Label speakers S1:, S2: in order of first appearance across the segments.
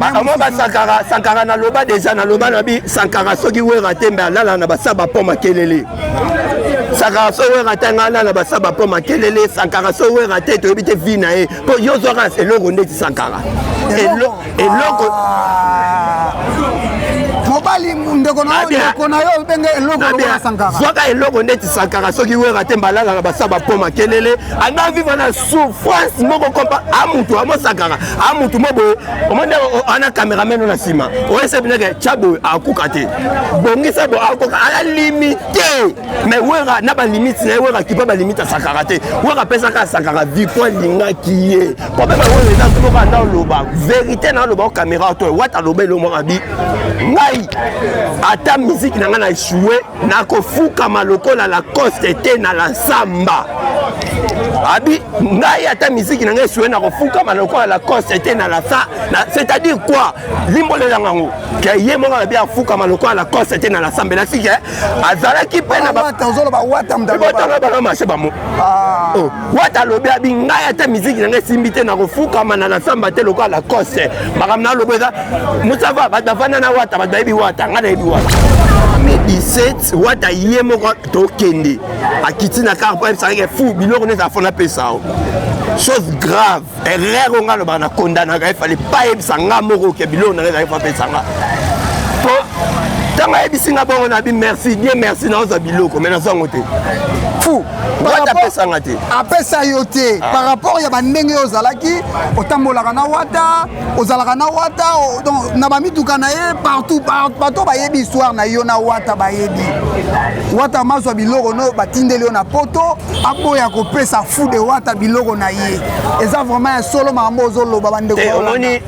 S1: bango basankara sankara
S2: naloba deja naloba na bi sankara soki wera te mbe alala na basaba mpo makelele sankara so wera te ngai alala basaba mpo makelele sankara so wera te toyebi te vi na ye mpo yo zwaka eloko ndeti sankara eloko
S1: mobali ndeko na ndeko na yo obenge eloko lokola sankara zwaka eloko ndeti
S2: sankara soki wera te mbalala na basa bapo makelele anda vivre na souffrance moko kompa a mutu amo sankara a mutu mo boye omoni ana cameraman na nsima oyese bineke tya boye akuka te bongisa bo akoka ala limite mais wera na balimite na ye wera kipa balimite ya sankara te wera apesaka sankara victoire alingaki ye problème yango oyo eza soki okaa nao loba verité na aloba o caméra oto wata aloba elo mwa mabi ngai ata miziki na ngai na echoue nakofukama lokola lacoste te na la nsamba abi ngai ata miziki na ngai echoue nakofukama lokola lacoste te na la sa c'est-à-dire quoi limbolela ngango ke ye moko alobi afukama lokola lacoste te na la samba elakisi ke azalaki mpe na botanga
S1: bana mashe bamo
S2: wata alobi abi ngai ata miziki na ngai esimbi te nakofukama na nasamba te lokola lacoste makambo na alobi eza mosava bato bafanda na wata bato bayebi wata ngai nayebi wata mai 17 wata ye moko tokende akiti na kar po ayebisaka ke fu biloko neti afona pesa o chose grave erreur oyo ngai alobaka na kondanaka ye fale pa yebisa ngai moko ke biloko na ngai ezalaki fapesa ngai po ntango ayebisi ngai bongo nabi merci die merci naoza biloko mai nazwa yango te fu
S1: wata apesa
S2: ngai te apesa yo te
S1: ah. par rapport ya bandenge oyo ozalaki otambolaka na wata ozalaka na wata donc na bamituka na ye partout bato bayebi histoire na yo na wata bayebi wata mazwa biloko no batindeli yo na poto aboya kopesa fude wata biloko na ye eza vraiment ya solo makambo ozoloba bandeko eh, omoni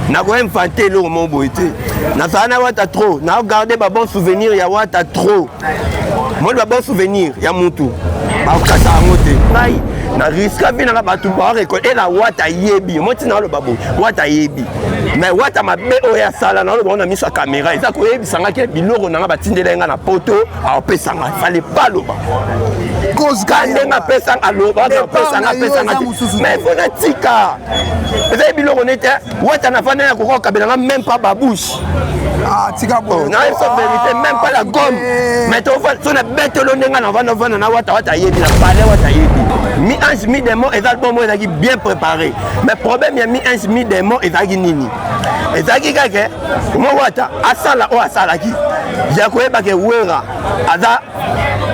S2: nakoinfante eloko moko boye te nazala na wata trop naogarde babon souvenir ya wata trop moni babon souvenir ya mutu bakokasa yango te ngai na riska vi nanga bato barekole ela wata ayebi mo ntina aloba boye wata ayebi me wata mabe oyo asala naoloba ngo na miso ya kamera eza koyebisa ngai ke biloko nanga batindela ye ngai na poto apesanga fale pa loba kozka ndenge apesanga aloba apesanga apesanga mais fo natika ezali biloko nete wata na fana ya kokoka kabelanga meme pa babouche Ah, tika
S1: boye na yeso verité
S2: même pas la gomme eh. mais so na betelo ndenge na vanda vanda na wata wata ayebi na pale wata ayebi mi ange mi démon ezali bongo ezalaki bien préparé mais problème ya mi ange mi démon ezalaki nini ezalaki kaka mowata asala oyo asalaki ya koyeba ke wera aza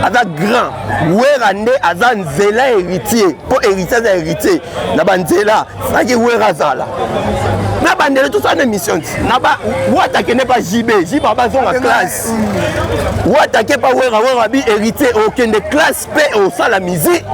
S2: aza grand wera nde aza nzela héritier mpo héritier aza héritier na banzela saki wera azala na bandele tosala na émission ti na ba wata kende pa jb jb abazonga classe wata ke pa wera wera bi héritier okende classe mpe osala mizi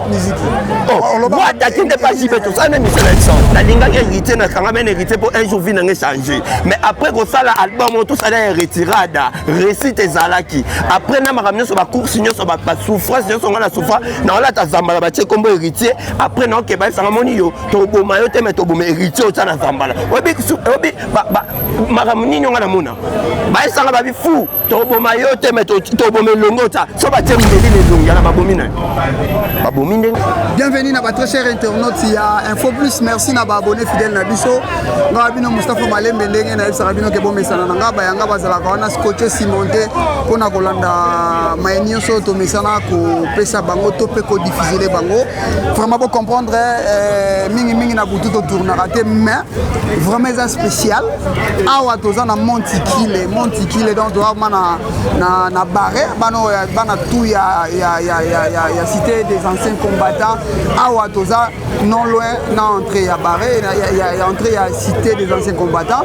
S2: wataki oh, nde mpa jibe tosala nde misala iso nalingaki héritier nakanga mene héritier mpo un jour vie nange change mais après kosala album oyo tosala ya retirada récite ezalaki après na makambo nyonso bacourse nyonso basouffrance nyonso ngai na souffra naolata zambala batie nkombo héritier après naokeba esanga moni yo toboma yo te me toboma héritier otya na zambala oyebi makambo nini yo ngai namona baesanga babi fou toboma yo te me toboma elongo ta so batie mbeli na elongi yana babomi na babomi ndenge bienvenue na
S1: batrès cher internaute ya info plus merci na baabonné fidèle na biso ngaa bino mustapha malembe ndenge nayebisaka bino ke bomesana na ngai bayanga bazalaka wana scotche cimonte mpo na kolanda maye nyonso oyo tomesana kopesa bango to mpe kodifusele bango vraiment bocomprendre eh, mingimingi na butu totournaka te mais vraiment eza spécial awa toza na montikile montikile donc toza ma na, na, na barre bana oyo bana tout ya, ya, ya, ya, ya, ya cité des anciens combattants awa toza non loin na entrée ya barre ya, ya, ya entrée ya cité des anciens combattants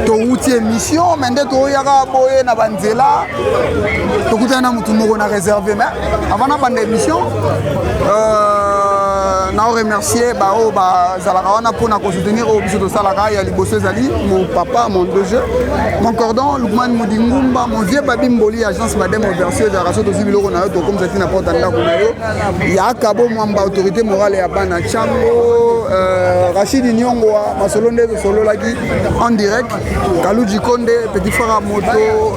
S1: towuti émission mais nde toyaka boye na banzela tokutani na motu moko na réserve mais avant na banda émission Euh, nao remercier baoyo bazalaka wana mpona kosoutenir oyo biso tosalaka ya liboso ezali mon papa mon doge mon cordon lukman mudingumba mon vieux babi mboli agence madame oversio ezalaka so tozwi biloko na yo tokomisa ti na porte ya ndako na yo yaka bomwamba autorité morale ya bana cango euh, rachidi niongoa masolo nde tosololaki en direct Kalou Djikonde, Petit Frère à Moto,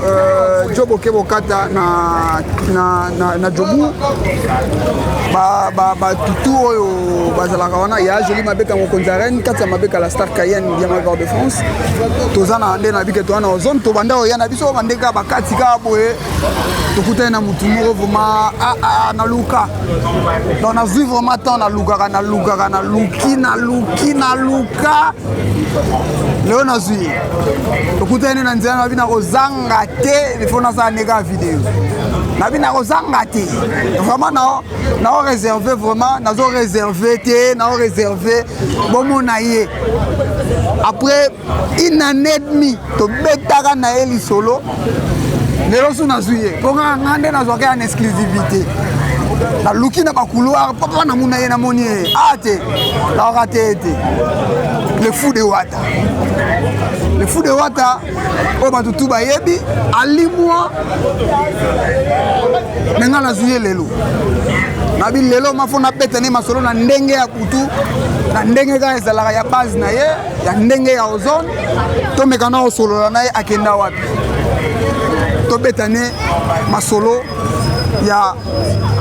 S1: euh, Joe Bokebokata na, na, na, na Djobou, ba, ba, ba tutu oyo bazalaka wana ya Jolie Mabeka mokonzi ya Rennes, kati ya Mabeka la Star Cayenne ya Malgor de France. Toza na nde na bike toza na ozone tobanda oya na biso bande ka bakati ka boye tokutani na motu moko vraiment ah, ah, na luka donc nazwi vraiment temps na lukaka na lukaka na luki na luki na luka leo nazwi tokutani na nzela nabi nakozanga te ifo nasala ndeka video nabi nakozanga te vraiment nao réserve vraiment nazo réserve te nao réserve bomona ye après une année demi tobetaka na ye lisolo lelo so nazwi ye mpo nga nga nde nazwaka ya na exclusivité naluki na bacouloir papa namona ye namoni ye a ah, te naoka te ye te le fou de wata le fou de wata oyo bato tu bayebi alimwa me ngai nazwi ye lelo nabi lelo mafo nabeta ne masolo na ndenge ya kutu na ndenge kaka ezalaka ya base na ye ya ndenge ya ozone tomeka na osolola na ye akenda wapi tobetane masolo ya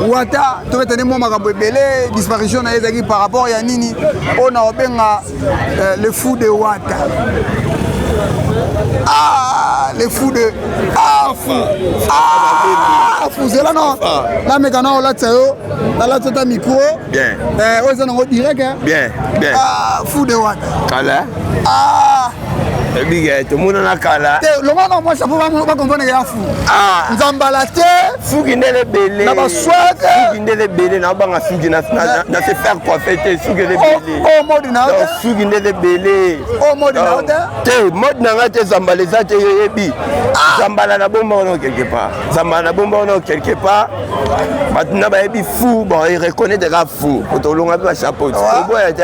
S1: wata tobetane mwa makambo ebele disparition na ye ezalaki par rapport ya nini oyo na obenga euh, le fou de wata ah, le fou de ah, fou ah, fou zela no nameka na olatisa yo nalatisa ta micro oyo
S2: eza nango
S1: direct
S2: fou de
S1: wata
S2: Ah! ebiga eh, tomonana kala te longola na mwasi po
S1: bakomponeke ya fu ah! nzambala te suki ndele
S2: ebele na baswete
S1: suki ndele ebele
S2: na obanga suki na se faire coiffe te suki ele oh, ebele oh, mode na yo
S1: suki ndele ebele
S2: o oh, mode na yo
S1: te te mode na
S2: ngai te zambala eza te yo yebi ah! zambala na bomba wana quelque part zambala na bomba wana quelque part bato na bayebi fou bon ereconnaitre ka fou otolonga mpe bachapeau oboya te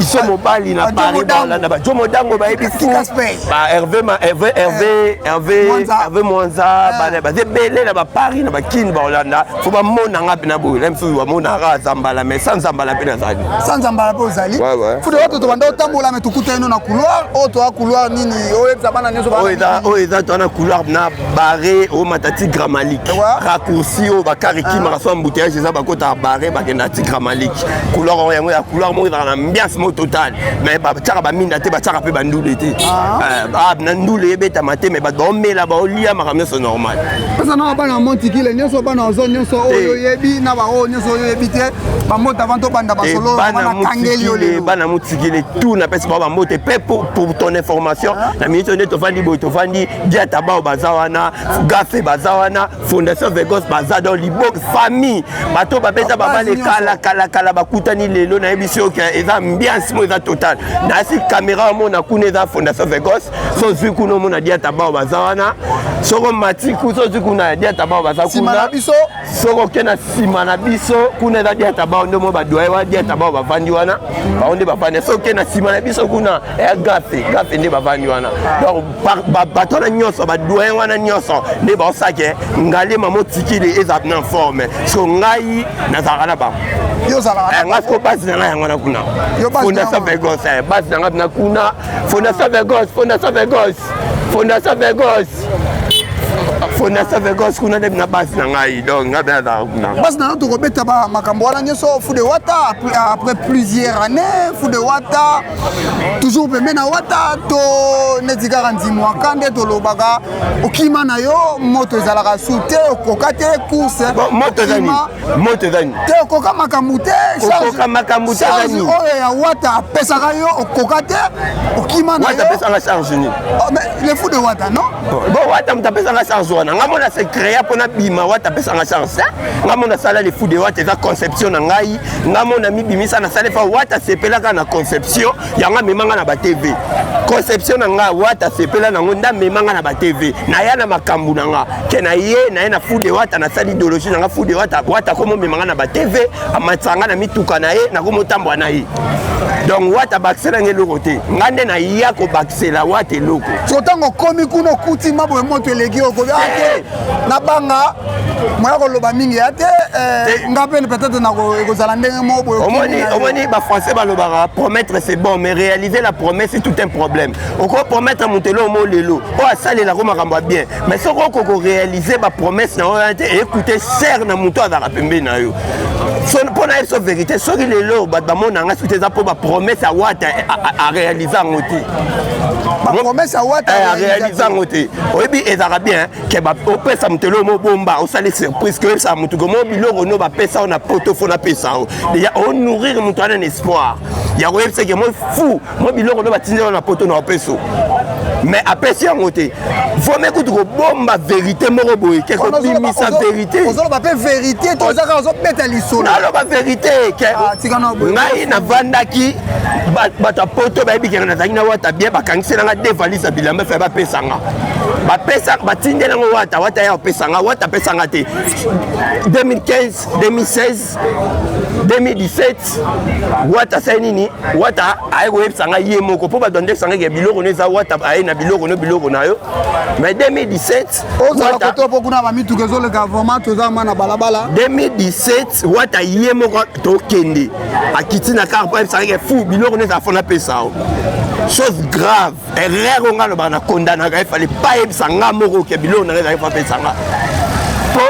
S2: iso mobali na paris balanda ba jomo dango bayebi fu ba herve ma herve eh, herve herve herve mwanza eh. bana baza ebele na baparis na bakini baolanda fo bamona nga mpena boye na misusu bamonaka zambala mais sans zambala mpe nazali sans zambala mpe ozali
S1: fude wato tobanda otambola me tokuta ino na couloir oyo toa couloir nini oyebisa bana nyonso oyo eza toa na couloir
S2: na bare omata ti gramalike raccourci oyo bakare kimaka ah. so embouteillage eza bakotaka bare bakenda ti gramalike couloir oyo yango ya couloir moko ezalaka na ambiance moko totale mais batiaka baminda te batiaka mpe bandule te ah. eh, ah, na ndule ebetama te mais bato baomela baolia makambo nyonso normal pesa na bana ya
S1: montikile nyonso bana ozo nyonso eh. oyo oyebi na baoyo nyonso oyo oyebi te bambota avant tobanda
S2: basolobana motikile tout napesi bao bambote mpe pour ton information na minute nde tofandi boye tofandi diata bao baza wana gafe baza wana fondation vegos baza donc libok famille bato babeta babale kala kala kala bakutani lelo nayebisi yo ke eza ambiance mo eza total nayasi kamera omona kuna eza fondation vegos so ozwi kuna omona diata bao baza wana soko mati kusa ozwi kuna diata bao baza kuna soko oke na nsima na biso kuna eza diata bao nde mo badoye wana diata bao bavandi wana bango nde bavandi so oke na nsima na biso kuna eya gafe gafe nde bavandi wana donc bato wana nyonso badoyen wana nyonso nde baosake ngalema motikili eza na forme so ngai nazalaka na bango eh,
S1: nga siko basi na ngai yango
S2: na kuna fondation vegos eh, basi na ngai na kuna fondation vegos fondation vegos fondation vegos fondation vegos kuna nde na basi na ngai donc ngai mpe nazalaka kuna basi na ngai tokobeta
S1: makambo wana nyonso fude wata après plusieurs années fude wata toujours pembe na wata to neti kaka nzimwaka nde tolobaka okima na yo moto ezalaka su te okoka te course moto ezani
S2: moto ezani te
S1: okoka makambo te okoka makambo te ezani oyo ya wata apesaka yo okoka te okima na yo wata
S2: apesaka
S1: charge nini
S2: oh, le fou
S1: de
S2: wata non bon wata
S1: moto apesanga
S2: charge wana ngai mona se créa mpo nabima wata apesanga charge nga mona sala le fou de wata eza conception na ngai nga mo na mibimisa na sale fa wata sepelaka na conception yango amemanga na ba tv conception na nga wata sepela nango nda amemanga na ba tv naya na makambo na nga ke na ye naye na fude wata nasali ideologie na nga fude wata wata komomemanga na ba tv amatisa nga na mituka na ye nakomotambwa na ye donc wata bakisela nga eloko te nga nde naya kobakisela wata eloko so ntango okomi
S1: kuna okuti mabwe moto eleki okobi ake nabanga moya koloba mingi ya te eh, nga mpe peut-être ekozala ndenge moko boyeomoni bafrançais
S2: balobaka promettre c'est bon mais réaliser la promesse c'est tout un problème okoki promettre moto eloo mo lelo oyo asalelako makambo ya bien mais soki okoki koréalise bapromesse na oyo te ecoute ser na moto azalaka pembeni na yo mpo na ye biso verité soki lelo bato bamona nga soki te eza mpo bapromese ya wata arealise yango te
S1: bapromese ya wata arealise yango te
S2: oyebi ezalaka bien ke opesa moto eloko mobomba osali surprise ke oyebisa moto komo biloko no bapesa yo na poto fo napesa yo deja onourrir moto wana na espoir ya koyebisa ke moi fou Moi biloko nde batindela na poto na opeso mais apesi yango te vome kutu kobomba verité moko boye ke kobimisa verité ozoloba mpe verité
S1: te oza kaka ozobeta lisolo naloba verité
S2: ke ah, ngai navandaki bato ya poto bayebi keke nazalaki na wata bien bakangisela nga de valise ya bilamba efe bapesa nga bapesa batindela yango wata wata ya opesa nga wata apesa nga te 2015 2016 2017 wata asali nini wata aye koyebisa ngai ye moko mpo bato andekisa ngai ke biloko no eza wata aye na biloko no biloko na yo mai 2017 ozala koto
S1: mpo kuna bamituka ezoleka vraimen toza ma na balabala 2017
S2: wata ye moko tokende akiti na kar mpo ayebisa ngai ke fu biloko no eza fona pesa yo chose grave erreur oyo ngai alobaka na kondanaka efale pa yebisa ngai moko ke biloko na ngai ezalaki papesa ngai po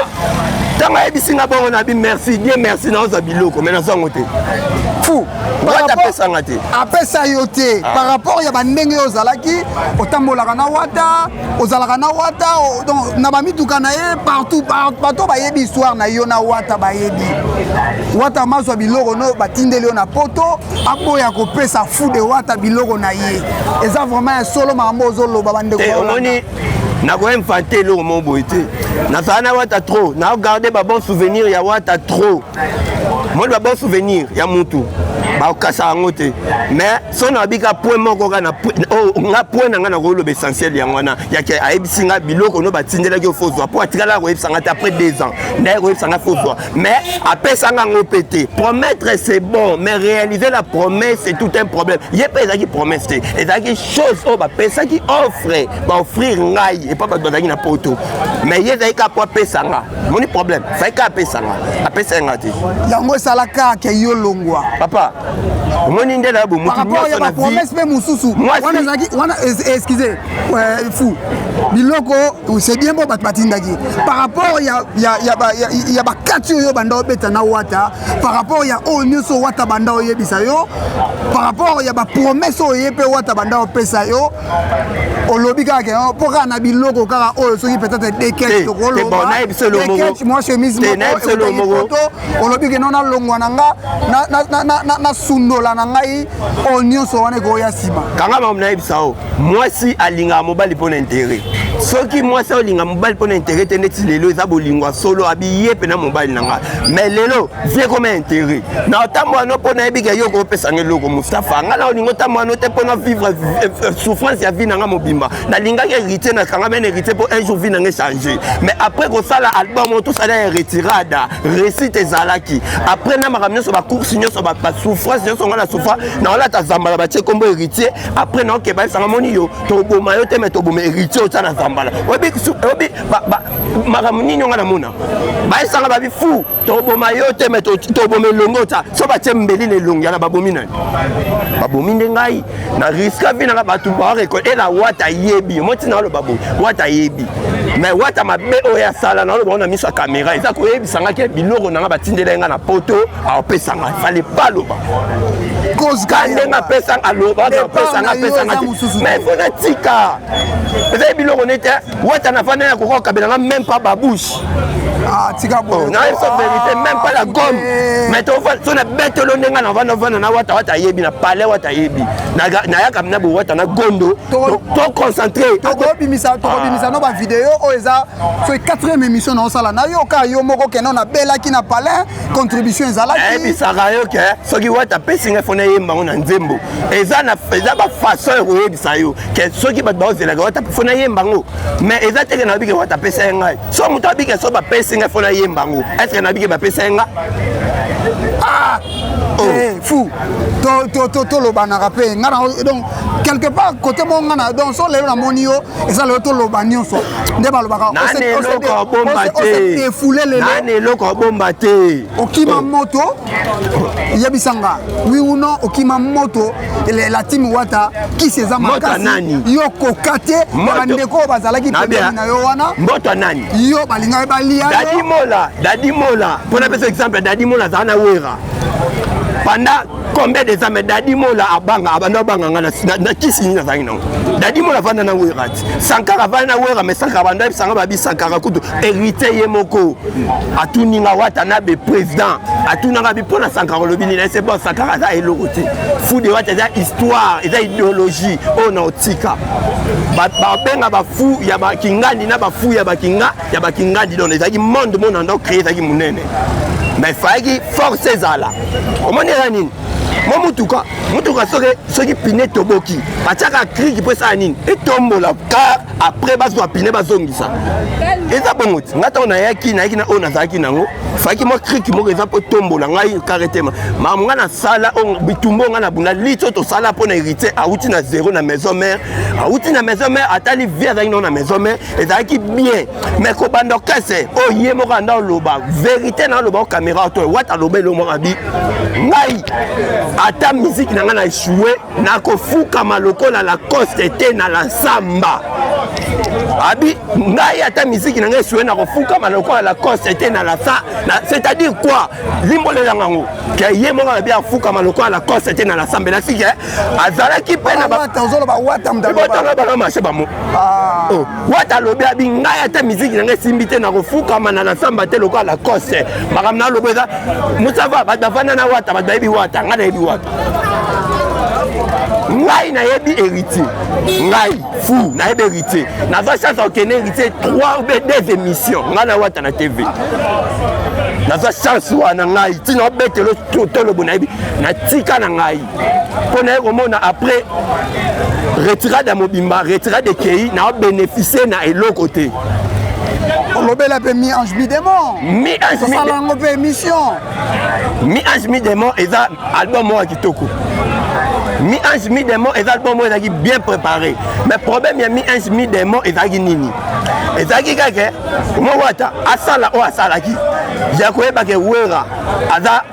S2: ntango ayebisi ngai bongo na bi merci die merci naoza biloko mai nazango te fu
S1: wata apesa
S2: ngai te apesa yo te
S1: ah. par rapport ya bandenge oyo ozalaki otambolaka na wata ozalaka na wata donc na bamituka na ye partout bato bayebi histoire na yo na wata bayebi wata mazwa biloko no batindeli yo na poto aboya kopesa fude wata biloko na ye eza vraiment ya solo makambo ozoloba bandeko eh, omoni
S2: nakoinfante eloko moko boye te nazala na wata trop naogarde babon souvenir ya wata trop moni babon souvenir ya mutu bakokasa yango te mais so na babika point moko kaka oh, nga point na ngai nakoloba essentiel yango wana yake ayebisi ngai biloko no batindelaki ofozwa mpo atikala koyebisa ngai te après deux ans ndaye koyebisa ngai fozwa mais apesanga yango mpe te promettre c'est bon mais réaliser la promesse c'est tout un problème ye mpe ezalaki promesse te ezalaki chose oyo bapesaki offre baoffrir ngai epa bato bazalaki na poto mais ye ezalaki kaka mpo apesanga moni problème ezalaki kaka apesanga apesaki nga te yango esalaka
S1: ke yo longwa papa
S2: omoni nde na bomotu nyonso na vie mpe
S1: mosusu wana ezalaki wana excuse euh, fou biloko c'est bien bon bato batindaki par rapport ya, ya, ya, ba, ya, ya bakati oyo banda obeta na wata par rapport ya oyo nyonso wata banda oyebisa yo par rapport ya bapromese oyo ye mpe wata banda opesa yo olobi kaka ke mpo kaka na biloko kaka oyo soki peut-être dekech tokolobaekech mwa chemise mokopoto olobi ke no nalongwa na nga nasundola na ngai oyo nyonso wana ekoya nsima kanga mamu nayebisa
S2: o mwasi alingaka mobali mpo na intere soki mwasi aolinga mobali mpo na intere te ndeti lelo eza bolingo ya solo abiye mpe na mobali na ngai mai lelo vie koma intere na ntango wana mpo nayebika yo okopesa ngai eloko mostafa ngai na olingo ntango wana te mpo na vivre eh, eh, souffrance ya vie na ngai mobimba nalingaki héritier na kanga mene héritier mpo un jour vie na ngai change mais après kosala album oyo tosala ya retirada récite ezalaki après na makambo nyonso bacourse nyonso basouffrance nyonso ngai na souffra na olata zambala batie nkombo héritier après na okeba esanga moni yo toboma yo te me toboma héritier oza na zambala oyebi makambo nini onga namona bayesanga babi fu toboma yo te me toboma elongi oza so batie mbeli na elongi yana babomi nani babomi nde ngai na riska vi nanga bato barekol ela wata ayebi yo motina aloba boye wata ayebi me wata mabe oyo asala na oloba ona miso ya kamera eza koyebisa ngaki biloko nanga batindela ye ngai na poto apesanga fale pa loba kozka ndenge apesanga aloba apesanga apesanga mais fo natika ezali biloko nete wata na fanda ya kokoka kabelanga meme pa babouche Ah,
S1: tika boye na yeso verité
S2: même pas la gomme mais so na betelo ndenge na vanda vanda na wata wata ayebi na palais wata ayebi nayaka na bowata na gondo to concentré tokobimisa
S1: ah. no bavideo oyo eza soki 4e émission na osala na yo ka yo moko kende na belaki na palais contribution ezalaki ayebisaka yo ke
S2: soki wata apesi ngai fona eyemba yango na nzembo eza na eza bafaçon ya koyebisa yo ke soki bato baozelaka wata fona eyemba yango mais eza teke na babike wata apesa ye ngai so moto abike so bapesi ngai fona eyemba yango estce na bike bapesa ye ngai
S1: ah! Oh. Eh, fou tolobanaka mpe ngai donc quelque part kote mo ngai na donc so lelo namoni yo eza lelo toloba nyonso nde balobaka
S2: efule leloeloko abomba te okima oh. moto
S1: yebisa nga wi uno okima moto latimi wata kisi eza makasi yo koka te na bandeko oyo bazalaki pembeni na yo wana mboto nani yo
S2: balingaki balia
S1: dadimola
S2: dadimola mpo napesa exemple dadimola azala na wera panda combien des âmes dadi mola abanga abanda abanga nga na kisi nini nazangi nango dadi mola avanda na wera ti sankara avanda na wera mais sankara banda yebisanga babi sankara kutu héritier ye moko atuni nga wata na be président atunanga bi mpo na sankara olobi nini ese bon sankara aza eloko te fude wata eza histoire eza idéologie oyo na otika babenga bafu ya bakingandi na bafu ya bakinga ya bakingadi don ezalaki monde monde ando créé ezalaki monene mais fayaki force ezala omoni eza nini mwa motuka motuka soki soki pine toboki batiaka kriki mpo esala nini etombola car après bazwa pine bazongisa eza bongo ti ngai ntango nayaki nayaki na oyo nazalaki nango fayaki mwa kriki moko eza mpo etombola ngai kare te mamu ngai nasala bitumba ngai nabunda liti oyo tosala mpo na héritier awuti na zero na maison mare awuti na maison mare atali vie azalaki nango na maison mare ezalaki bien mais kobanda okese oyo oh, ye moko anda oloba verité na oloba o caméra oto wata aloba elo moko abi ngai ata miziki na ngai na echoue nakofukama lokola lacoste te na lansamba abi ngai ata miziki na ngai echoue nakofukama lokola lacoste te na lasa c'est-à-dire quoi limbolela ngango ke ye moko abi afukama lokola lacoste te na lasamba elasi ke azalaki mpe na botanga bana mashe bamo ah. oh, wata alobi abi ngai ata miziki na ngai esimbi te nakofukama na nasamba te lokola na kose makambo na alobi eza mosava bato bafanda na wata bato bayebi wata ngai nayebi wata ngai nayebi héritier ngai fou nayebi héritier naza chance akokende héritier 3 ou 2 émissions ngai na wata na tv naza chance wana ngai ntina obetelo tolobo nayebi natika na ngai mpo naye komona après retirade ya mobimba retirade ekei na obeneficie na eloko te
S1: olobela mpe mi ange mi démon osala yango mpe émission mi ange
S2: mi démon eza album moko ya kitoko mi ange mi démon eza album moko ezalaki bien préparé mais problème ya mi ange mi démon ezalaki nini ezalaki kaka moko ata asala oyo asalaki ya koyeba ke wera aza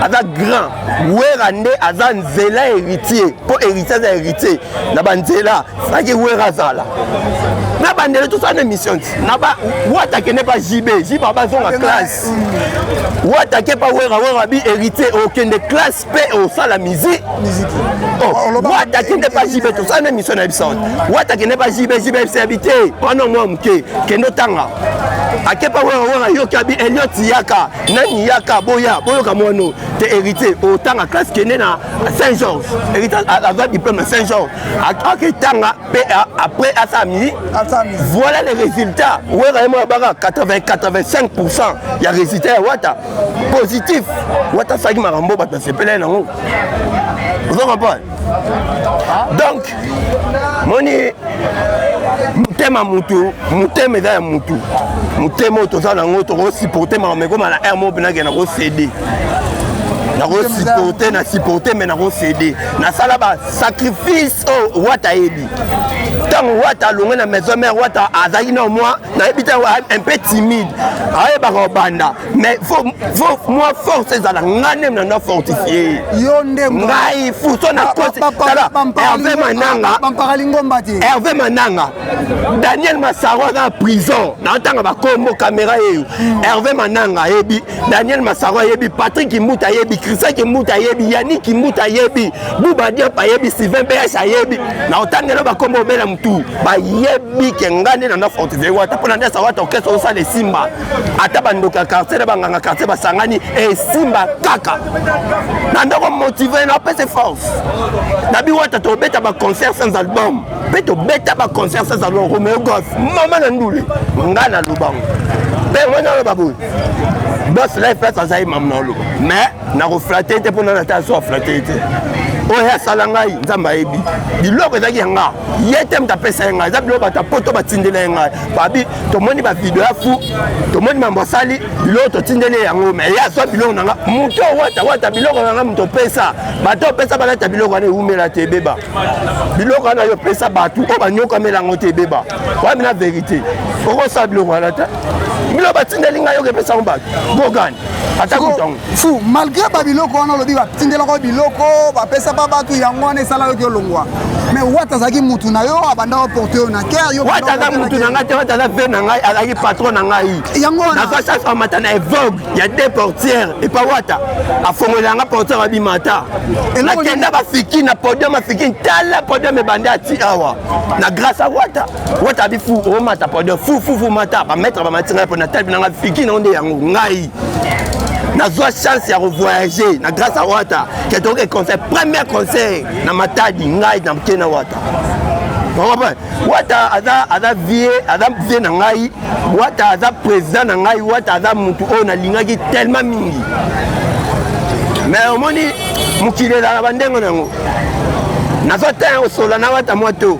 S2: aza grand wera nde aza nzela héritier mpo héritier aza héritier na banzela saki wera azala na bandele tosala na émission na ba wata kende pa jb jb bazonga classe wata ke pa wera wera bi héritier okende classe mpe osala musique oh, wata kende pa jb tosala na émission na biso wata kende pa jb jb ebisa yabi te wana mwa moke kende otanga akepa wera wera yoki abi eliot yaka nani yaka boya boyoka mwano te héritier otanga classe kende na saint georges héritier azwa diplôme na saint georges ake tanga mpe après asala mini voilà les résultats wera ye moko baka 80 85 pourcent ya résultat ya wata positif wata asalaki makambo bato basepela ye nango ozo comprendre donc moni motema mutu motema eza ya mutu motema oyo toza nango tokosupporte makambo ekoma na r mo penake na kosede nakosupporte na supporte me nakosede nasala basacrifice oyo oh, wata ayebi ntango wata alongwe na maison mare wata azalaki na mwa nayebi te un peu timide ayebaka obanda mais faut faut moi force ezala ngai nde mna na fortifie yo nde ngai fuso na kosi tala Hervé Mananga bampaka lingomba te Hervé Mananga Daniel Masaro aza na prison na tanga ba kombo caméra yeyo hmm. Hervé Mananga ayebi Daniel Masaro ayebi Patrick Kimbuta ayebi Christian Kimbuta ayebi Yannick Kimbuta ayebi Bouba Diop ayebi Sylvain BH ayebi na otangela ba kombo bela mutu bayebi ke ngai nde na na fortifie wata pona nde sa wata okesa osala esimba ata bandoki ya quartier na banganga quartier basangani esimba kaka na ndoko motive na apese force na biwata tobeta baconcert sans album mpe tobeta baconcert sans album romeo gos mama na ndule ngai na lubango mpe yango naloba boye bos life place azali mama na oloba mais nakoflate te mpo nana ata aso aflate te oyo asala ngai nzambe ayebi biloko ezalaki ya ngai ye te moto apesa ye ngai eza biloko bato ya poto batindela ye ngai tomoni bavideo ya fu tomoni mambo asali biloko totindeli yango me ye azwa biloko na nga moto owata wata biloko na nga moto opesa bato opesa balata biloko wana ewumela te ebeba biloko wana yo opesa bato oyo banyokamela yango te ebeba wabi na verité okosala biloko wana te biloko batindeli ngai yoka epesa yango bato gogani
S1: fu malgré babiloko wana olobi batindelaka biloko bapesa pa bato yango wana esala yoki olongwa mais wata azalaki mutu na yo abandaka porte yo na ker wata aza mutu na ngai
S2: te wata aza ve na ngai azalaki patron na ngai yango wana naza sasa amata na evogue ya de portière epa wata afongolela yanga portière abima ata nakenda bafiki na podium afiki ntala podium ebandi ati awa na grâce a wata wata bi fu omata pardon fu fu fu mata bametre bamati ngai mpo natali na ngai figi nango nde yango ngai nazwa chance ya kovoyage na grâce ya wata ke tokoke conseil premier conseil na matadi ngai na mke na wata wata aza aza vie aza vie na ngai wata aza président na ngai wata aza motu oyo nalingaki tellement mingi mais omoni mokili ezalaka bandenge na yango nazwa temps ya kosola na wata mwa to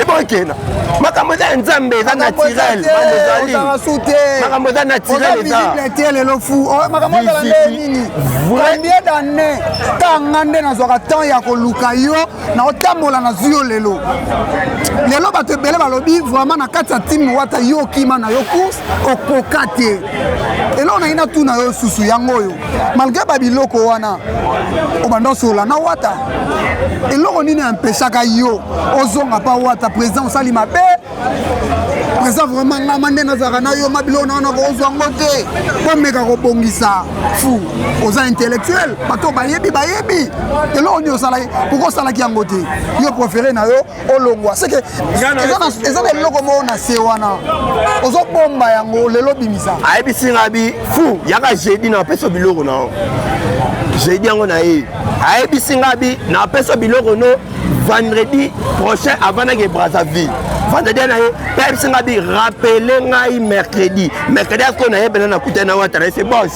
S2: ebokena makambo eza ya nzambe eza naturel makambo eza naturel ezate lelo fu
S1: oh, makambo ezala nde nini combien d'année tanga nde nazwaka temps ya koluka yo na otambola na zwi yo lelo lelo bato ebele balobi vraiment na kati ya time wata yo okima na yo course okoka te eloko naina tuna yo susu yango oyo malgre babiloko wana obanda osolola na wata eloko nini empeshaka yo ozonga mpa wata président osali mabe président vraiment ngama nde nazalaka na yo ma biloko na wana kozwa yango te komeka kobongisa fu oza intellectuel bato bayebi bayebi eloko nini osalaki pourkoi osalaki yango te yo préféré na yo olongwa seke eza na eloko moko na se wana ozobomba yango lelo obimisa ayebisi nga bi
S2: fu yaka jeudi na apesa biloko na yo jeudi yango na ye ayebisi nga bi na apesa biloko no vendredi prochain avandaki brazzaville vendredi na ye mpe ayebisi nga bi rappele ngai mercredi mercredi asiko na ye mpena nakutani na wata na ye se bos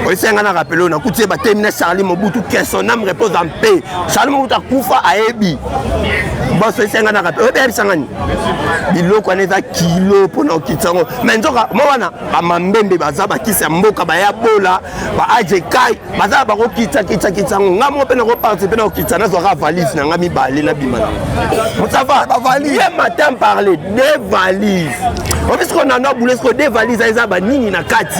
S2: oyesenga na rappele oyo nakuti ye batemi na charli mobutu kesonam repose en paix salimo moto akufa ayebi boso esenganaka mpe oyebi ayebisa ngani biloko wana eza kilo mpo na okitisa yango me nzoka mo wana bamambembe baza bakisi ya mboka baya bola baajekai baza bakokitsakitsakitsa yango ngai moko mpe nakoparticipe na kokitisa nazwaka valise na ngai mibale nabima na mosava bavalise matin parle de valise obi sikoyo nano abule sikoyo de valise eza banini na kati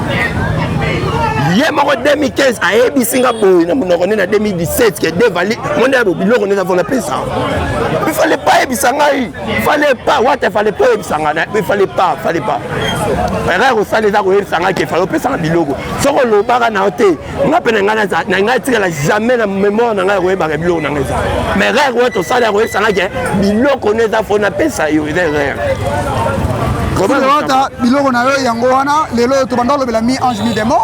S2: ye moko 2015 ayebisi nga boye na monoko nde na 2017 ke devali monde ya biloko nde navona pesa il fallait pas ayebisa ngai fallait pas wata fallait pas oyebisa ngai na il fallait pas fallait pas erreur osala eza koyebisa ngai ke fallait opesanga biloko soki olobaka na yo te nga mpe na ngai naza na ngai etikala jamais na memoire na ngai akoyebaka biloko na ngai eza mais rare oyo tosali akoyebisanga ke biloko no eza fo napesa yo eza rare ota
S1: biloko na yo yango wana lelo oyo tobanda olobela mi ange mi demo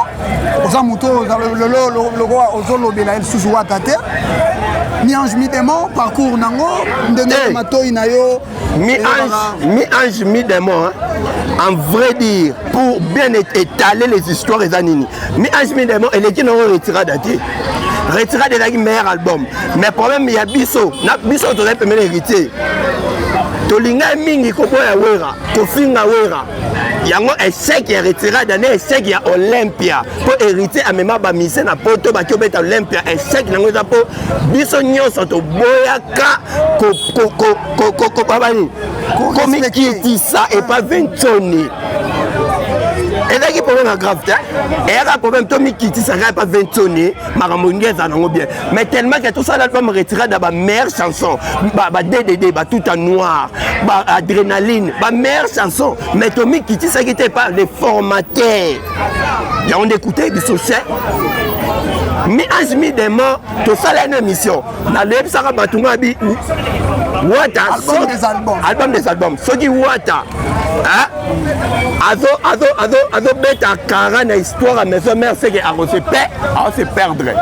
S1: oza moto lelo lokola ozolobela lisusu wata te mi ange mi demo parcours nango ndenge eh. matoi na yo mi ange
S2: mi ange mi démon hein? en vrai dire pour bien étaler les histoires eza nini mi ange mi démon eleki nango retirada te retirada ezalaki meilleur album mais problème ya biso na biso tozali pemene héritier tolingai mingi koboya wera kofinga wera yango echec ya retirada nde echec ya olympia mpo héritier amema bamise na poto baki obeta olympia echec yango eza mpo biso nyonso toboyaka kobabani komikitisa epa ventoni ezalaki problème ya grave te eyaka problème tomikitisaka epa ventoni makambo nge eza nango bien mais tellement ke tosala album retirade ya bameilleure chanson baddd batuta noir baadrénaline bameilleure chanson mais tomikitisaki te epa le formateur yango nde ekutaki biso se mi ange mi dema tosala ena émission naleyebisaka bato nga bi wata album des albums soki wata azobeta kara na histoire ya maison mère seke akose pe aose perdre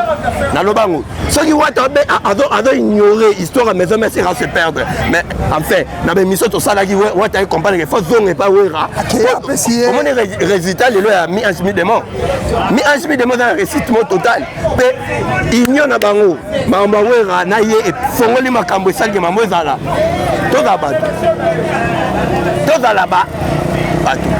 S2: naloba yango soki wata azo ignore histoire ya maison mère seke aose perdre mais enfin na bemission tosalaki wata ecompreneke fo zonga epa wera omoni résultat lelo ya mi ange mi demo mi ange mi demo eza na récite mo total mpe union na bango makambo ya wera na ye efongoli makambo esalike makambo ezala tozala bato tozala bato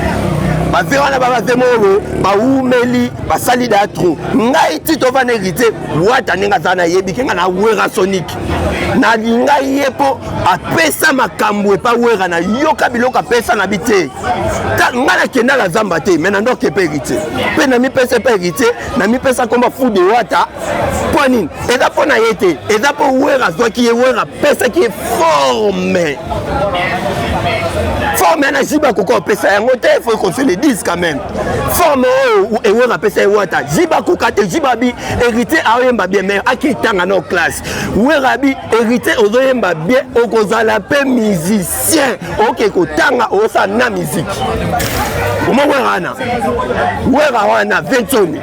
S2: baze wana babaze moko bawumeli basali da tro ngai ti tovanda héritier wata ndenge aza nayebi ke ngai na wera sonique nalinga ye mpo apesa makambo epa wera nayoka biloko apesa na bi te ngai nakendaka zamba te mai nandoke mpe héritier mpe namipesa mpe héritier namipesa nkombo fude wata mpo nini eza mpo na ye te eza mpo wera azwaki ye wera apesaki ye forme forme na jiba akoki kopesa yango te faut qu'on se le dise quand même forme oyo ewera apesa ye wata jiba akoka te jiba abi héritier aoyemba bien mais akitanga na classe wera abi héritier ozoyemba bien okozala mpe musicien musicien oke kotanga osa na miziki oma wera wana wera wana ventoni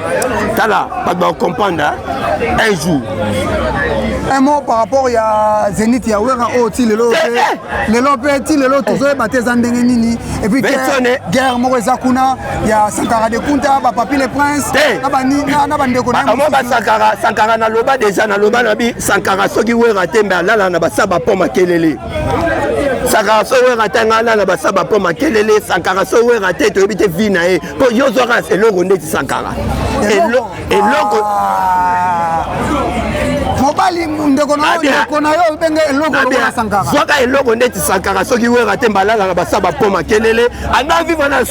S2: tala bato bakokomprendre un jour un
S1: mot par rapport ya zenith ya wera oyo oh, ti lelo eh, eh. lelo mpe ti lelo tozoyeba te eza ndenge nini epuis guerre moko eza kuna ya sankara de kunta bapapi le prince na bandeko namo basankara
S2: sankara naloba deja naloba na bi sankara soki wera te mbe alala na basaba mpo makelele sakara so wera te ngai nana basaba mpo makelele sakara so wera te toyebi te vi na ye mpo yo zwaka eloko ndeti sakara eloko
S1: ah. mobali ndeko na ndeko na yo obenge eloko lokola sankara zwaka eloko ndeti
S2: sankara soki wera te mbalala na basaba mpo makelele anda viva na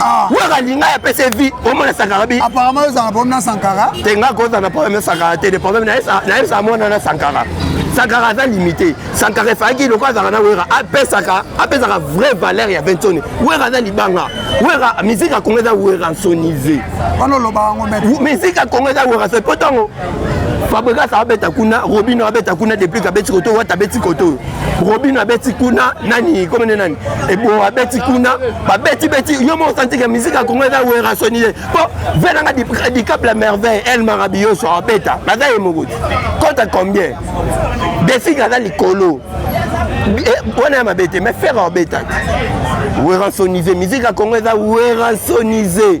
S2: Ah. waka linga ya pese vie omona sankara bi apparemment ozala problème na
S1: sankara tenga kozala na problème
S2: na sankara te de problème nayebisa mwana na sankara sankara aza limité sankara efalaki lokola azalaka na wera apesaka apesaka vraie valeur ya vinconi wera aza libanga wera miziki ya kongo eza weransonise wana oloba yango
S1: miziki ya kongo eza
S2: weransonise mpo ntango fabrigas abeta kuna robino abeta kuna depuis kabeti koto wata abeti koto robino abeti kuna nani komene nani ebo abeti kuna babeti beti yo moko santike miziki ya kongo eza werasoni ye po ve nanga dicap la merveille el marabiyoso abeta baza ye moko te kota combien defig aza likolo eh, wana ya mabe te mais fere abeta te werasonise miziki ya kongo eza werasonise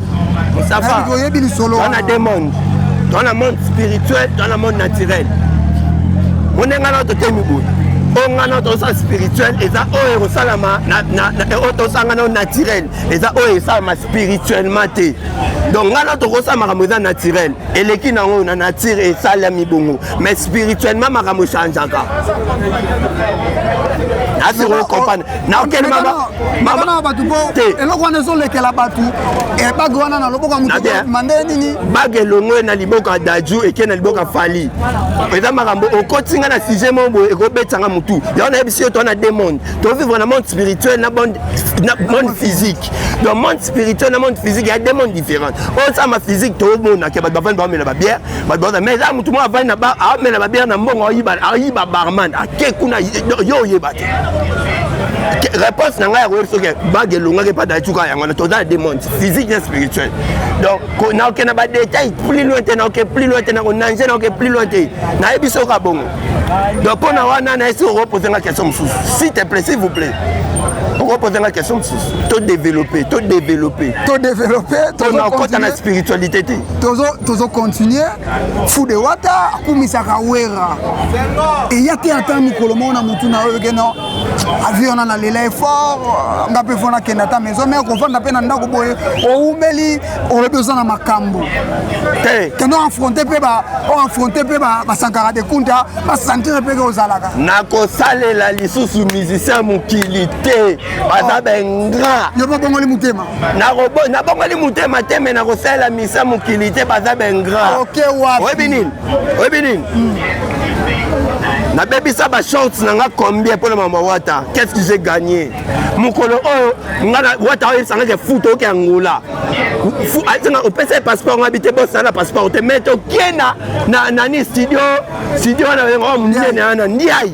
S1: Mustafa,
S2: oyebi lisolo wana deux
S1: monde
S2: toa na monde spirituel toa na monde naturel mone ngai nao totemi boye oyo ngai nao tosala spirituel eza oyo ekosalama oyo tosanga nao naturel eza oyo esalama spirituellement te donc ngai nao tokosala makambo eza naturel eleki na yango na nature esalami bongo mais spirituellement makambo echangeaka asi kokompane naokelimabana bato
S1: po eloko wana ezolekela bato eh, bage wana na loboko ya motomande eh? nini bage elongwe na
S2: liboko ya daju eke na liboko ya fali eza makambo okoti nga na sujet moko boye ekobetisa nga motu yango nayebisi yo to na de monde tovivre na monde spirituel na monde physique donc monde spirituel na monde physique ya de monde différente oyo sama physique tomonake bato bavandi bamela babiere bato baza mais eza motu moko avandi na amela babia na mbongo ayiba barman ake kuna yo oyeba te réponse na ngai ya koyebi soki bage elongaki epa dacuka yango na toza na demande physique na spirituel donc naoke na badetail plus loin te naoke plus loin te nakonange naoke plus loin te nayebi soki abongo donc mpo na wana nayesi okopose nga question mosusu si te plaît s'il vous plaît okopoza nga question mosusu to développe to développe to développe tona okota na spiritualité te tozo tozo continue
S1: fude wata akumisaka wera eya te ata mokolo moko na motu na oyo keno avi wana na lela effort nga mpe fona kenda ata maison me kofanda mpe na ndako boye oumeli olobi oza na makambo te kendo affronte mpe oaffronte mpe basankara de kunta basantire mpe ke ozalaka nakosalela
S2: lisusu musicien mokili te baza oh. bengra yo babongoli motema
S1: nabongoli
S2: motema te me nakosalela misa mokili te baza baingratoyebi nini oyebi nini hmm. nabebisa bashorts na nga combien mpo na mama wata qu'est-ce que j'ai gagné mokolo oyo nga na wata oyebisa nga ke fut oke angola asenga opesa ye passeport nga bi te bosala na passeport te mais tokie na nani studio studio wana oyo monene wana ndiayi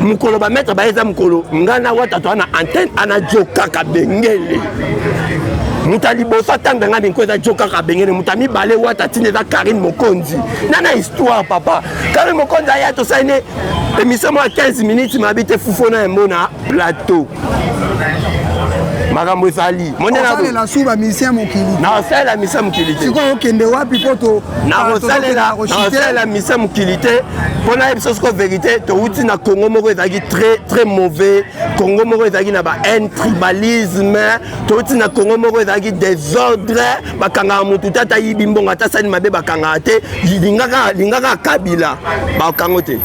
S2: mokolo bametre baye eza mokolo ngai na wata toa na antenne ana jo kaka bengele moto ya liboso atanga ngai minko eza jo kaka bengele moto ya mibale wata ntina eza karine mokonzi na na histoire papa karine mokonzi aya tosali ne émission mwa 15 minutes mabi te fufona yango na plateau makambo ezali monenasalela su
S1: bamisien mokili nakosalela misia mokili
S2: te sikoyo okende wapi mpo
S1: nakosalela
S2: misia mokili te mpo nayebi biso sikoyo verité towuti na congo moko ezalaki très très mauvais congo moko ezalaki na bahaine tribalisme towuti na congo moko ezalaki desordre bakangaka motu te ata yibi mbongo ata sani mabe bakangaka te lingaka kabila bakango te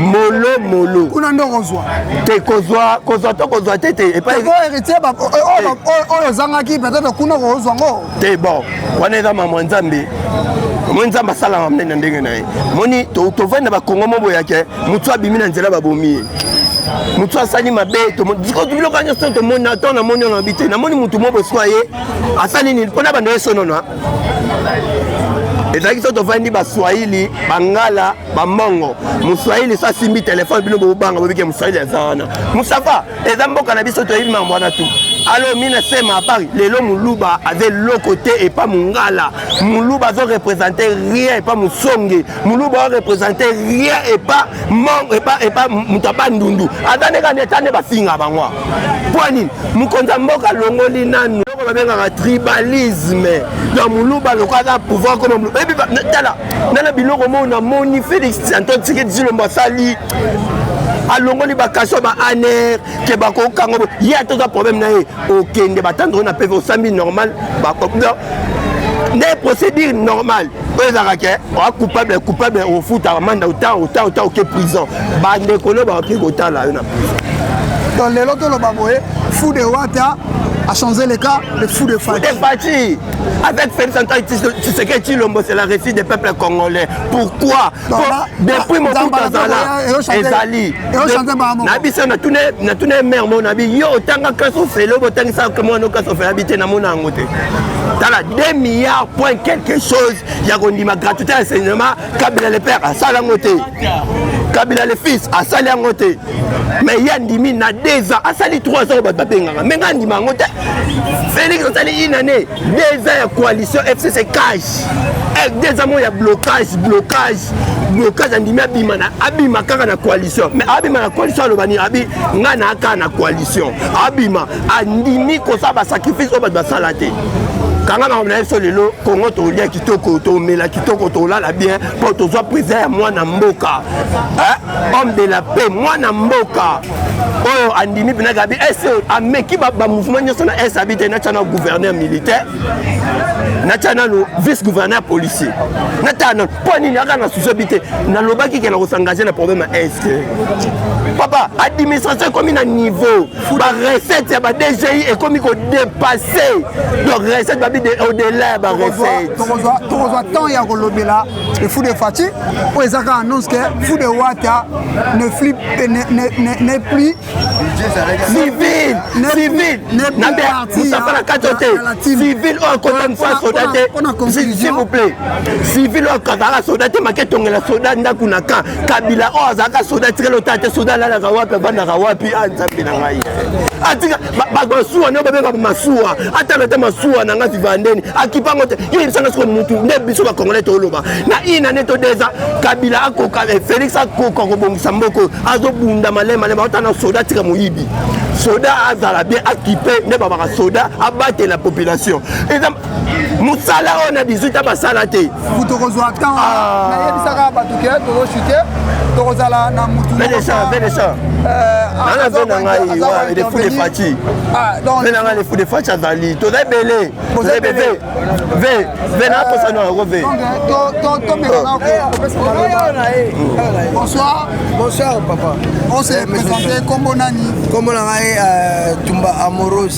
S2: molo molo kuna nde okozwa
S1: te kozwa
S2: kozwa to kozwa te te epaiheritie
S1: oyo ozangaki peut-être kuna okozwa ngo te bon wana
S2: eza mamwa nzambe omoni nzambe asalaka mnene na ndenge na ye moni tovandi na bakongo mo boyake motu abimi na nzela babomi ye motu asali mabe biloko nyonso tomoni to namoni ono abi te namoni motu mo boswa ye asali nini mpona bando ye sonona ezalaki so tovandi baswahili bangala bambongo moswahili so asimbi telefone bino bobanga bobike moswahili aza wana musafa eza mboka na biso toyebi mambo wana tu alo mi nasema apari lelo moluba aza eloko te epa mongala moluba azorepresente rien epa mosonge moluba arepresente rien epa epa moto aba ndundu aza ndenge aneta nde bafinga bango mpo nini mokonzi ya mboka alongoli nanu babengaka tribalisme na moluba lokola aza pouvoir koma moluba tala nga na biloko moo namoni félix antoine tshisekedi tshilombo asali alongoli bakasio ba aner ke bakokanga ye ata oza problème na ye okende batando oyo na peve osambi normal nde procédure normale oyo ezalaka ke oa coupable coupable ofutaka manda ota ota ota oke prison bandeko no baoki kotala yo
S1: na
S2: prison
S1: donc
S2: lelo
S1: toloba boye fou de
S2: wata
S1: a changé le cas le fou de fati
S2: Avec Félix Antoine Tshisekedi Chilombo, c'est la réussite des peuples congolais. Pourquoi non, Pour, bah, Depuis bah, mon bout d'Azala, Ezali. Nabisa, na tune, na tune mère mon abi, yo, tanga kaso felo, tanga sa kemo no kaso felo, habite na mon angote. Tala, 2 milliards point quelque chose, ya kondima gratuité à cinéma, kabila le père asala yango te kabila le fils asali yango te mais ye andimi na deux ans asali trois ans oyo bato babengaka me ngai andima yango te félix asali une année deux ans ya coalition fcc cage eh, deux ans mo ya blocage blocage blocage andimi abima na abima kaka na coalition mais abima na coalition aloba nini abi ngai naa kaka na coalition abima andimi kosala basacrifice oyo bato basala te kanga makambo na ye so lelo kongo toliaki kitoko tomela kitoko tolala bien mpo tozwa president ya mwana mboka homme de la paix mwana mboka oyo andimi mpena gabi ese eh, ameki bamouvement nyonso na es abi te natya na gouverneur militaire natya nano vice gouverneur policier natala nano mpo nini aka na susi abi te nalobaki ke na kosangage na problème ya est papa administration ekomi na niveau ba recette ya ba DGI ekomi ko dépasser donc recette babi de au delà ya ba recette tokozwa tokozwa
S1: temps ya kolobela le fou de Fatshi oyo eza ka annonce que fou de Wata ne flippe ne ne ne ne plus
S2: civil civil na be musafa na kato te civil oyo akota musa soda te s'il vous plaît civil oyo akazala soda te make tongela soda ndako na ka kabila oyo oh, azalaka soda atikala ota te soda alalaka wapi avandaka wapi a ah, nzambe na ngai atika masuwa nde babengaka masuwa atala te masuwa na ngai vivandeni akipango te yo yebisanga siko mutu nde biso bakongolais toloba na ina nde todeza kabila akoka eh, félix akoka kobongisa mboko azobunda malemale baota na soda atika moyibi soda azala bien akipe nde babaka soda abatela population mosala oyo na 18 a basala te tokozwa temps
S1: ah. nayebisaka bato ke tozoshute tokozala na mutu nana
S2: mpe na ngai lefu de fati mpe na ngai lefu de fati azali toza ebele toza ebele ve ve na tosani yango ve
S1: bonsoir bonsoir
S3: papa on se présente
S1: kombo nani kombo na ngai
S3: tumba amorose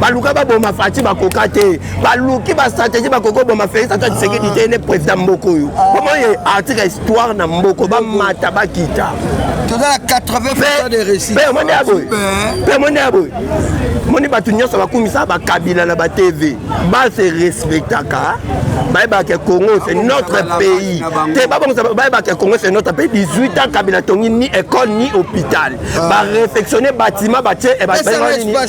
S2: baluka baboma fati bakoka te baluki bastratégie bakoki oboma félix ata tisekedi te ne président mboko oyo omoye article histoire na mboko bamata bakita toza na 80
S3: de réussite mpe omoni ya boye mpe omoni ya boye
S2: omoni bato nyonso bakumisa bakabila na batv base respectaka bayebaka ke congo c'est notre pays te babongisa bayebaka ke congo c'est notre pays 18 ans kabila tongi ni école ni hôpital ah. baréfectionne bâtiment batie eh,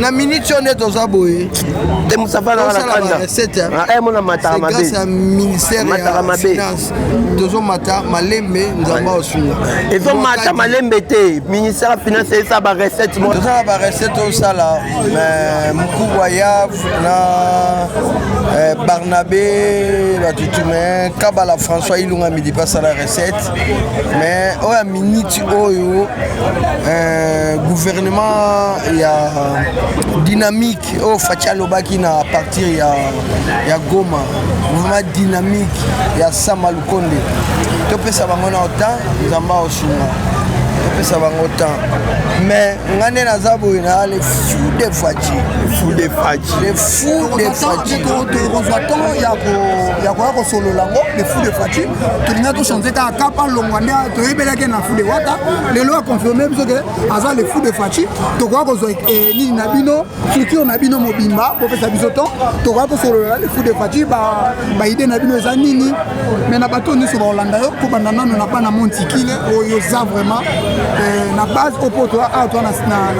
S3: na minute oyo nde toza boye te musafana
S2: wana kanda recette ah, eh mona
S3: mataka
S2: mabe grâce à ministère
S3: mataka mabe tozo mata malembe nzamba osunga ezo mata
S2: malembe te ministère finance esa ba recette mo toza ba recette au
S3: sala mais mukubwa ya na eh, Barnabé batutu mais Kabala François Ilunga midi pas la recette mais oyo ya miniti oyo euh, gouvernement ya dynamique oyo faci alobaki na partir ya, ya goma gouvernement dynamique ya sama lukonde topesa bango na otan nzambe aosunga topesa bango temps mais ngai nde naza boye na le fou de faci fou de faci
S1: le fou de faci tokozwa temps ya koya kosolola yango le fou de faci tolinga tochange kaka kapa longwa nde toyebelaki na fou de wata lelo aconfirme biso ke aza le fou de faci tokoka kozwa eh, nini na bino culture na bino mobimba bopesa biso temps tokoka kosolola le fou de faci baide na bino eza nini mai na bato nyonso baolanda yo kobanda nano na bana montikile oyo oza vraiment eh, na base opoto awa toa na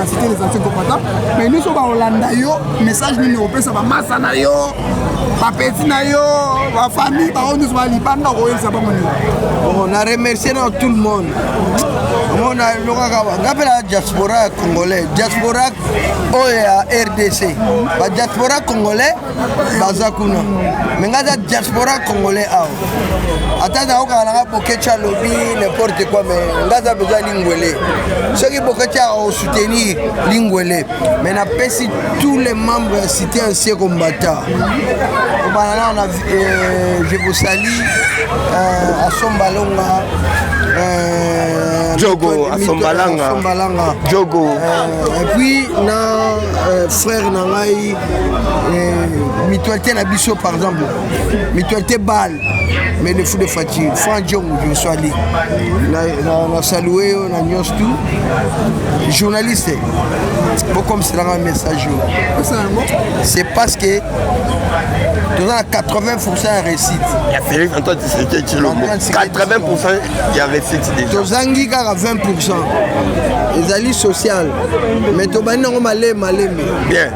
S1: cité les anciens kopata mai nyonso baolanda yo message nini opesa bamasa na yo bapeti na yo bafamille bango nyonso balibanda koyebisa bango nini oh, na remercie
S3: na tout le monde omona lokaka nga mpe na diaspora ya congolais diaspora oyo ya rdc badiaspora congolais baza kuna me nga aza diaspora congolais awa ata naokaka nanga bokecha alobi n'importe quoi me nga aza mpenza lingwele soki bokecha akosoutenir lingwele mais napesi tous les membres ya cité ancien combattant obana nao na euh, je vous sali euh, asomba longa euh,
S2: jogo asombalanga asombalanga jogo euh, et puis
S3: na euh, frère na ngai euh, mutualité na biso par exemple mutualité balle mais le fou de fati franc jong je sois ali na, na, na salue yo na nyonso tout journaliste bokomisela nga message oyo c'est parce que toza na 80 pourcent ya réussite ya félix antoine
S2: tshisekedi tshilombo 80 pourcent ya réussite déjà tozangi kaka 20
S3: pourcent ezali social mais tobandi nango malemi malemi bien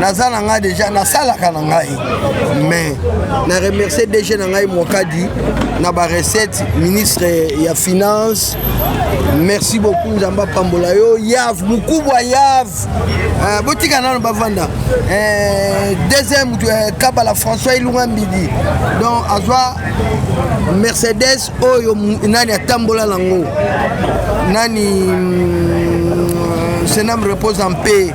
S3: naza na ngai deja nasalaka na ngai mais na remercie dg na ngai mokadi na barecette ministre ya finance merci beaucoup nzambe apambola yo yav mokubwa yav uh, botika nano bavanda uh, deuxième mutu uh, kabala françois ilunga mbidi donc azwa mercedes oyo nani atambola nango nani mm, senam repose en paix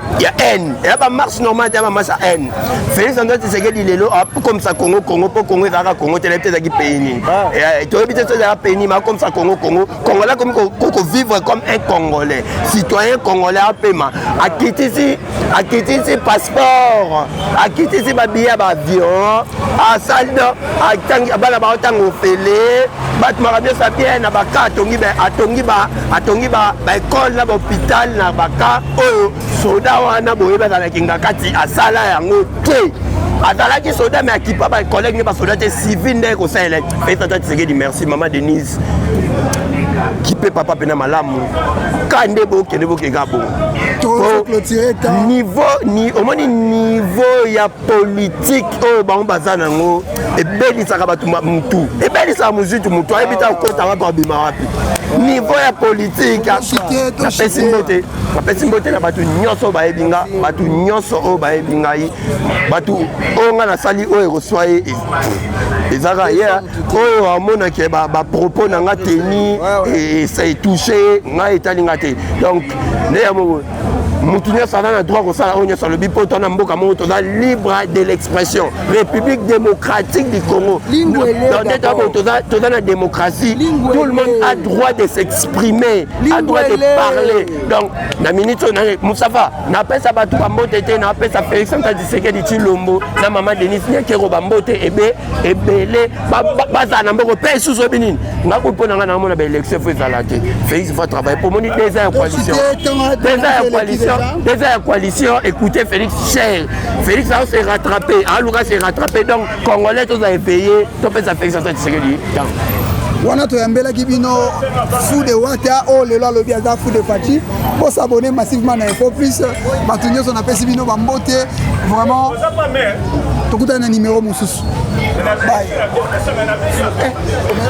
S2: ya haine ya ba marche normale te ya ba marche ya haine Félix Antoine Tshisekedi lelo akomisa Congo Congo mpo Congo ezalaka Congo te nayebi te ezalaki pays nini ah. eh, toyebi te so ezalaka pays nini akomisa Congo Congo Congolais akomi kovivre comme un Congolais citoyen Congolais apema akitisi akitisi passeport akitisi babiye ya baavion asali bana bango ntango ofele bato maka nyonso abie na baka atongi baekole na bahôpital na baka oyo soda wana boyebi azalaki kingakati asala yango te azalaki soda me akipa bacollègue ne basoda te civil nde kosalela fetata tisekedi merci mama denise kipe papa mpena malamu ka nde bokende bokeka bo niveau omoni niveau ya politike oyo bango baza na yango ebelisaka bato mutu ebelisaka mozitu motu ayebi ta kokota wapi abima wapi niveau ya politike napesi mbote napesi mbote na bato nyonso oyo bayebi nga bato nyonso oyo bayebi ngai bato oyo ngai nasali oyo ekoswa ye ezalaka ye oyo amonaki bapropos na nga teni etouche ngai etali nga te donc nde ya moko motu nyonso aza na droit kosala oyo nyonso alobi mpo tona mboka moko toza libre de l'expression république démocratique du congo toza na démocratie tout le monde a droit de s'exprimer a droit de parler donc na minute oyo nani mosafa napesa bato bambote te napesa félix anta disekedi cilombo na mama denis nyakero bambote ebe ebele bazala na mboko mpe lisusu oyebi nini nga kuyi mpo na ngai namona baélection fo ezala te félix va travaille mpo omoni deza ya coalition deza ya coalition deza ya coalition écoute félix cher félix ao se rattrape aluka se rattrape donc congolais tozala epeye topesa félix aza tisekeli temps wana
S1: toyambelaki bino fou de wata oyo oh, lelo alobi aza fou de faci bosabone massivement na info plus bato nyonso napesi bino bambote vraiment tokutana na nimero mosusu eh,